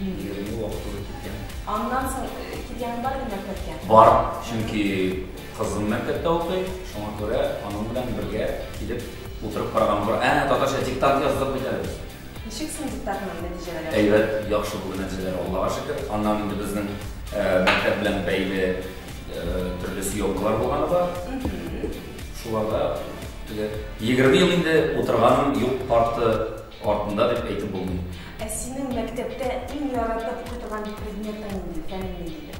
Егерме вакытлы киткән. Аннан соң э, килгән бар инде мәктәпкә? Бар, чөнки кызым мәктәптә укый, шуңа күрә аның белән бергә килеп утырып караган бар. Ә, татарча диктант яздык бит әле. Ничек соң диктатның нәтиҗәләре? Әйбәт, яхшы бүген нәтиҗәләр, Аллага шөкер. Аннан инде безнең э, мәктәп белән бәйле э, төрле съемкалар булганы бар. Шуларда теге 20 ел инде утырганым юк, парты Артында дип әйтеп булмый. Ә синең мәктәптә иң яратып укытылган предметың нинди, фәнең ниндидер?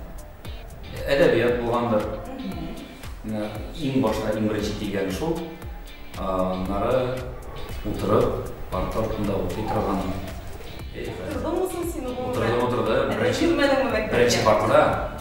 Әдәбият булгандыр. Менә иң башта, иң беренче килгәне шул. Аннары утырып, парта артында укый торган. Утырдыңмы соң син гомумән? Утырдым, утырдым. Әдәп бирмәдеңме мәктәптә? Беренче партада.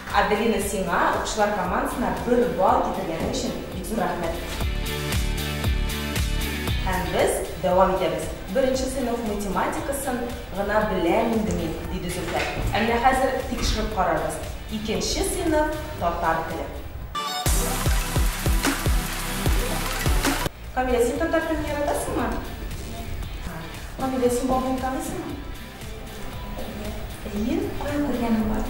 Аделина сиңа укчылар командасына бер балл китергәнең өчен бик зур рәхмәт. Һәм без дәвам итәбез. Беренче сыйныф математикасын гына беләм инде мин, диде Зөлфәт. Ә менә хәзер тикшереп карарбыз. Икенче сыйныф татар теле. Камилә, син татар телен яратасыңмы? Камилә, син бабуны таныйсыңмы? Әйе, кая күргәнем бар?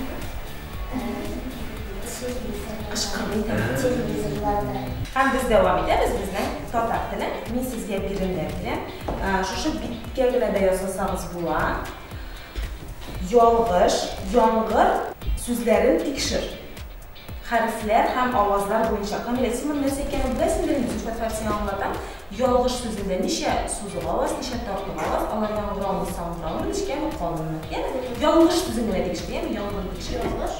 Һәм без дәвам итәбез безнең татар теле. Мин сезгә биремнәр бирәм. Шушы биткә генә дә ясасагыз була. Ялгыш, яңгыр сүзләрен тикшер. Хәрефләр һәм авазлар буенча камилә синең нәрсә икәнең беләсең дә инде, Зөлфәт Фәт сиңа аңлата, ялгыш сүзендә ничә сузык аваз, ничә тартык аваз, алар яңгыраумы, саңгыраумы, нечкәме, калынмы. Йә, ялгыш сүзен генә тикшер, яме, яңгырны тикшер. Ялгыш.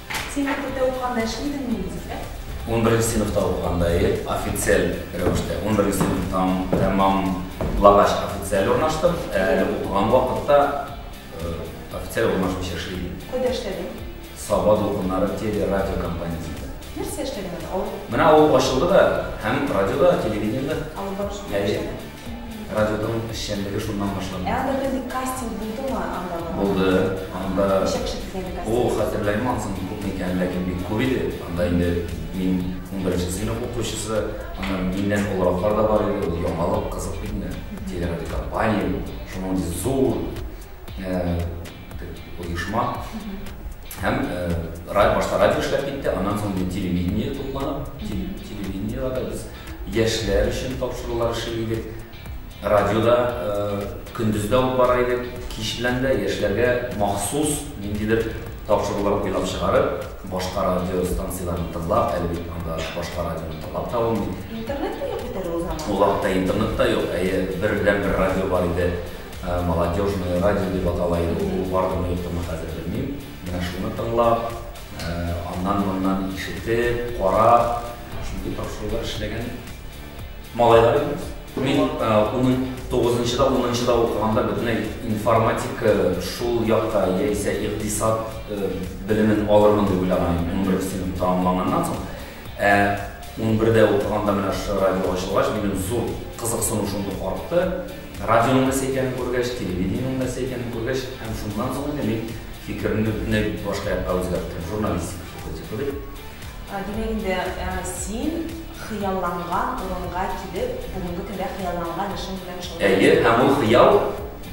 Син мәктәптә укыганда эшли идең мени дисә? Унберенче сыйныфта укыганда ие, официаль рәвештә. Унберенче сыйныфтан тәмам лагач официаль урнаштым, ә әле укыган вакытта официаль урнашмыйча эшли идем. Кайда эшләдең? Саба дулкыннары телерадио компаниясендә. Нәрсә эшләдең анда? Менә авыл ачылды да, һәм радиода, телевидениедә. Авылда эшләдең? Әйе. Радионың эшчәнлеге шуннан башланды. Ә анда бер кастинг булдымы анда? Булды. Анда Ничә кеше килгән кастинг? Ул хәтерләмим ансын күп микән, ләкин бик күп иде. Анда инде мин унберенче сыйныф укучысы, аннан миннән олыраклар да бар иде. Ул яңалык, кызык бит инде. Телерадиокомпания, шуның ди зур оешма. Һәм башта радио эшләп китте, аннан соң телевидение тупланып, телевидениедә без Яшьләр өчен тапшырулар эшли идек. Радиода көндез дә алып бара идек, кич белән дә. Яшьләргә махсус ниндидер тапшырулар уйлап чыгарып, башка радиостанцияләрне тыңлап, әле бит анда башка радионы тыңлап та булмый. Интернет та юк бит әле ул заманда. Ул вакытта интернет та юк, әйе, бердәнбер радио бар иде, Молодежное радио дип атала иде ул. Ул бардымы, юктымы, хәзер белмим. Менә шуны тыңлап, аннан-моннан ишетеп, карап. Шундый тапшырулар эшләгән малайлар иде. Мин 9-нчыда, 10-нчыда укыганда бөтенләй информатика шул якта яисә икътисад белемен алырмын дип уйлаган идем, 11 сыйныфны тәмамлаганнан соң. Ә 11-дә укыганда менә шушы радио ачылгач, минем зур кызыксыну шундук артты. Радионың нәрсә икәнен күргәч, телевидениенең нәрсә икәнен күргәч, һәм шуннан соң инде мин фикеремне бөтенләй башка якка үзгәрттем, журналистика факультеты дип. Димәк инде, син хыялланган урынга килеп, бүгенге көндә хыялланган эшең белән шөгыль. Әйе, һәм ул хыял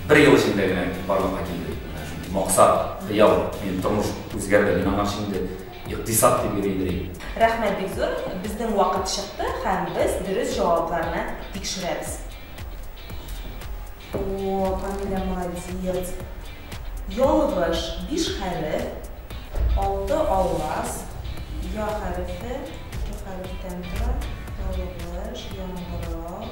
бер ел эчендә генә барлыкка килде. Менә шундый максат, хыял, минем тормыш үзгәрде. Мин аңарчы инде икътисад дип йөри идем. Рәхмәт бик зур. Безнең вакыт чыкты һәм без дөрес җавапларны тикшерәбез. О, Камилә молодец. Ялгыш, биш хәреф, алты аваз, я хәрефе, ике хәрефтән тора, ялгыш, яңгырау,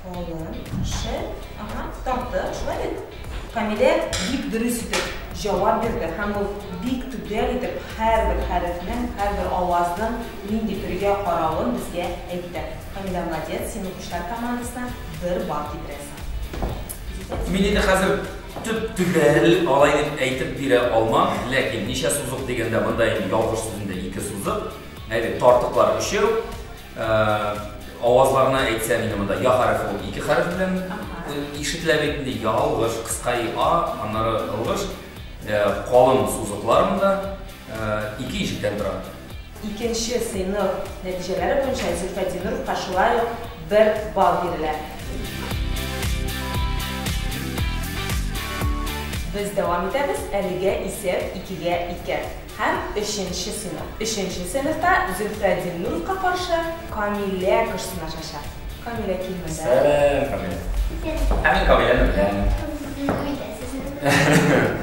калын, ше, ага, тарты, шулай бит? Камилә бик дөрес итеп җавап бирде һәм ул бик төгәл итеп һәрбер хәрефнең, һәрбер авазның нинди төргә каравын безгә әйтте. Камилә, молодец, син укучылар командасына бер балл китерәсең. Мин инде хәзер төп төгәл алай дип әйтеп бирә алмам, ләкин ничә сузык дигәндә монда инде ялгыш сүзендә ике сузык, әйбәт тартыклар өчәү. Э, авазларына әйтсәм инде монда я хәрефе ул ике хәреф белән ишетелә бит инде ялгыш, кыска и а, аннары ялгыш, э, калын сузыклар монда э, ике ишектән тора. Икенче сыйныф нәтиҗәләре буенча Зөлфәт Зиннуровка шулай ук бер балл бирелә. Без дәвам итәбез, әлегә исәп икегә ике. Һәм өченче сыйныф. Өченче сыйныфта Зөлфәт Зиннуровка каршы Камилә көч сынашачак. Камилә килмәде. Сәлам, Камилә. Һәм мин Камиләне беләм. Сезне белмим дә, сезне беләм.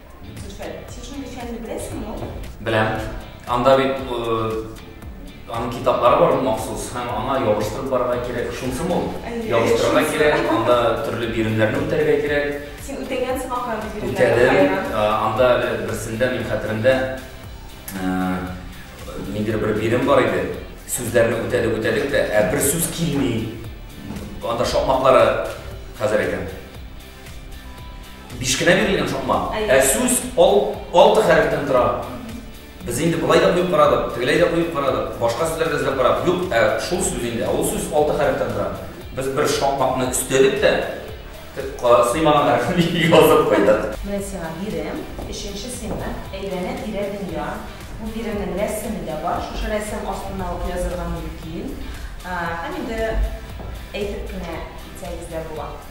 Беләм. Анда бит аның китаплары бар махсус, һәм аңа ябыштырып барырга кирәк. Шунсы мул. Ябыштырырга кирәк, анда төрле биремнәрне үтәргә кирәк. Син үтәгәнсең ахран бит биремнәрне. Үтәдем. Анда берсендә мин хәтеремдә ниндидер бер бирем бар иде. Сүзләрне үтәдек, үтәдек тә, ә бер сүз килми. Анда шакмаклары хәзер әйтәм. Биш кенә бирелгән шакма. Ә сүз ал, алты хәрефтән тора. Без инде былай да куеп карадык, тегеләй дә куеп карадык, башка сүзләр дә эзләп карадык. Юк, ә шул сүз инде, ә ул сүз алты хәрефтән тора. Без бер шакмакны өстәдек тә, сыймаган хәрефне язып куйдык. Менә сиңа бирем, өченче сыймы, әйләнә тирә дөнья. Бу биремнең рәсеме дә бар, шушы рәсем астына ук язырга мөмкин. Һәм инде әйтеп кенә китсәгез дә була.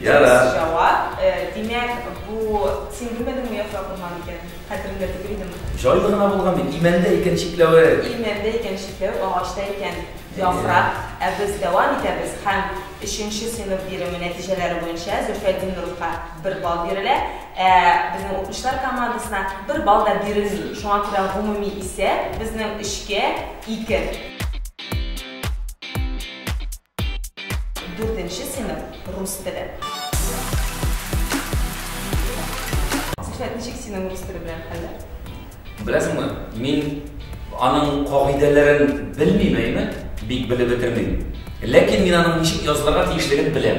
Ярар. Дөрес җавап. Э, димәк, бу син белмәдеңме яфрак булган икән? Хәтерендә түгел идеме? Җайлы гына булган бит. Имәндә икән чикләве. Имәндә икән чикләве, агачта икән яфрак. Ә без дәвам итәбез һәм өченче сыйныф биреме нәтиҗәләре буенча Зөлфәтдин Нуровка бер балл бирелә, ә безнең укучылар командасына бер балл да бирелми. Шуңа күрә гомуми исәп безнең өчкә ике. Дүртенче сыйныф рус теле. Сәхәт ничек синең рус теле белән хәлле? Беләсеңме, мин аның кагыйдәләрен белмим, әйме? Бик белеп бетермим. Ләкин мин аның ничек язылырга тиешлеген беләм.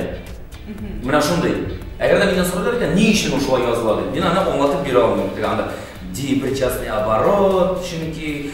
Менә шундый. Әгәр дә миннән сорыйлар икән, ни өчен ул шулай языла дип, мин аны аңлатып бирә алмыйм. Теге анда депричастный оборот, чөнки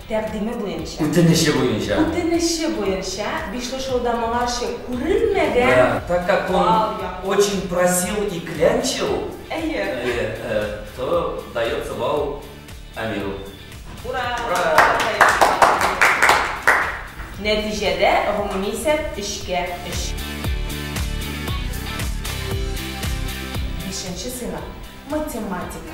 Тәкъдиме буенча. Үтенече буенча. Үтенече буенча, бишле шоуда моңарчы күрелмәгән Да, так как он бал яклы. очень просил и клянчил, Әйе. э, э, то дается бал Амиру. Ура! Ура! Нәтиҗәдә, гомуми исәп, өчкә өч. Бишенче сыйныф, математика.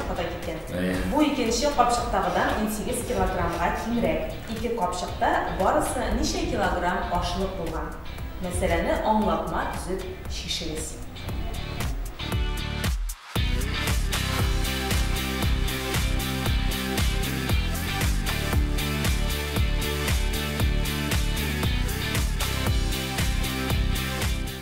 Ходай иткән. Бу икенче капчыктагыдан унсигез килограммга кимрәк. Ике капчыкта барысы ничә килограмм ашлык булган? Мәсьәләне аңлатма төзеп чишегез.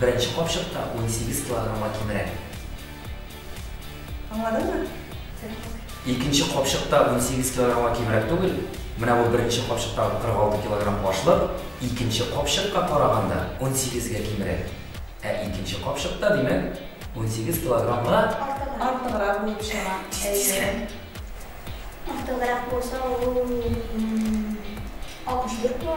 Беренче капчыкта унсигез килограммга кимрәк. Аңладыңмы? Икенче капчыкта унсигез килограммга кимрәк түгел. Менә бу беренче капчыктагы 46 килограмм ашлык икенче капчыкка караганда унсигезгә кимрәк. Ә икенче капчыкта, димәк, унсигез килограммга. Артыграк булып чыга. Тиз-тизгә. Артыграк булса, ул 64 була.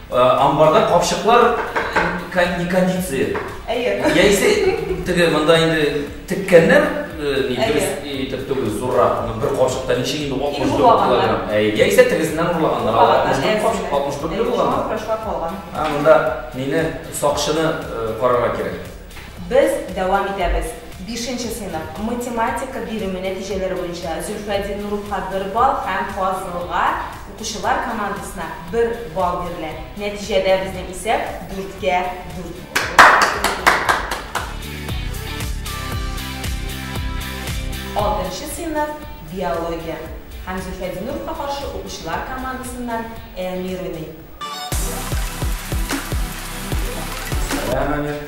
Амбарда капчыклар не кондиция. Әйе. Яисә теге монда инде теккәннәр ни дөрес итеп түгел, зуррак. Бер капчыкта ничек инде 64 килограмм. Әйе. Яисә тегесеннән урлаганнар. 64 капчык, 64 ле булган. А монда мине сакчыны карарга кирәк. Без дәвам итәбез. Бишенче сыйныф математика биреме нәтиҗәләре буенча Зөлфәдин Нуровка бер балл һәм Фазылга Укучылар командасына бер балл бирелә. Нәтиҗәдә безнең исәп дүрткә дүрт булды. Алтынчы сыйныф биология һәм Зөлфәдиновка каршы укучылар командасыннан Әмир уйный. Сәлам, Әмир.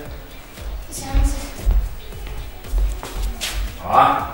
Исәнмесез. А.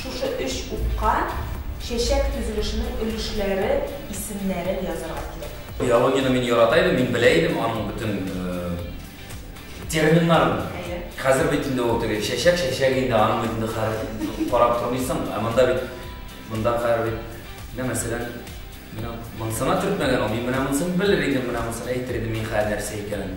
Шушы өч утка чәчәк төзелешенең өлешләре исемнәрен язарга кирәк. Биологияне мин ярата идем, мин белә идем аның бөтен терминнарын. Әйе. Хәзер бит инде ул теге чәчәк, чәчәк инде аның бит инде хәреф карап тормыйсың, ә монда бит монда хәер бит менә мәсәлән менә монсына төртмәгән ул, мин менә монсын белер идем, менә монсын әйтер идем мин хәер нәрсә икәнен.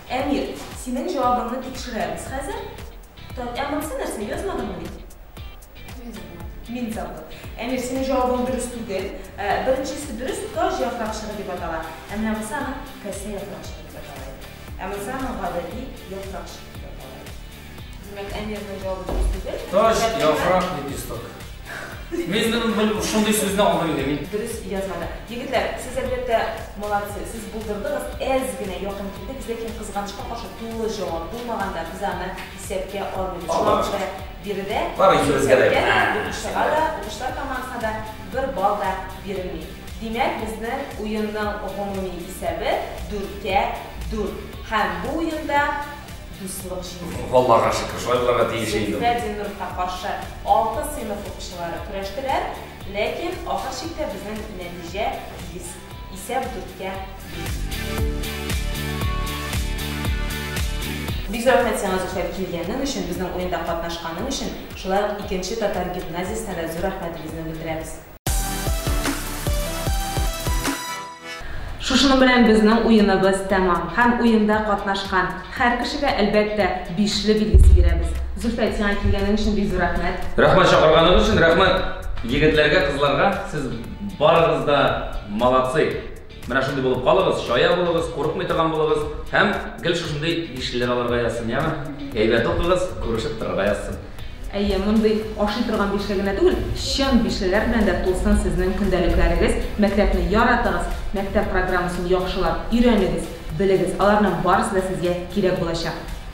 Әмир, синең җавабыңны тикшерәбез хәзер. Тор, ә монысы нәрсә, язмадыңмы ни? Мин забыл. Мин забыл. Әмир, синең җавабың дөрес түгел. Беренчесе дөрес, таҗ яфракчыгы дип атала. Ә менә монысы аның касә яфракчыгы дип атала иде. Ә монысы аның гадәти яфракчыгы дип атала иде. Димәк, әмирнең җавабы дөрес түгел. Таш, яфрак, лепесток. Мин бел шундый сүзне аңлый идем. Дөрес язмады. Егетләр, сез әлбәттә молодцы. Сез булдырдыгыз, әз генә якын килдегез, ләкин кызганычка каршы тулы җавап булмаганда без аны исәпкә алмыйбыз. Шуңа күрә биредә бары икебезгә дә укучыга да, укучылар командасына да бер балл да бирелми. Димәк, безнең уенның гомуми исәбе 4-кә 4. Һәм бу уенда Дуслык җиңде. Аллага шөкер, шулай булырга тиеш инде. Зөһрә Зиннуровка каршы алты сыйныф укучылары көрәштеләр, ләкин ахыр чиктә безнең нәтиҗә тигез, исәп дүрткә биш. Бик зур рәхмәт сиңа, Зөфәр, килгәнең өчен, безнең уенда катнашканың өчен, шулай ук икенче татар гимназиясенә дә зур рәхмәтебезне белдерәбез. Шушының белән безнең уеныбыз тәмам һәм уенда катнашкан һәр кешегә, әлбәттә, бишле билгесе бирәбез. Зөлфәт, сиңа килгәнең өчен бик зур рәхмәт. Рәхмәт чакырганыгыз өчен, рәхмәт егетләргә, кызларга, сез барыгыз да молодцы! Менә шундый булып калыгыз, чая булыгыз, курыкмый торган булыгыз һәм гел шушындый бишлеләр алырга язсын, яме? Әйбәт укыгыз, күрешеп торырга язсын. Әйе, мондый ашый торган бишле генә түгел, чын бишлеләр белән дә тулсын сезнең көндәлекләрегез. Мәктәпне яратыгыз, мәктәп программасын яхшылап өйрәнегез, белегез. Аларның барысы да сезгә кирәк булачак.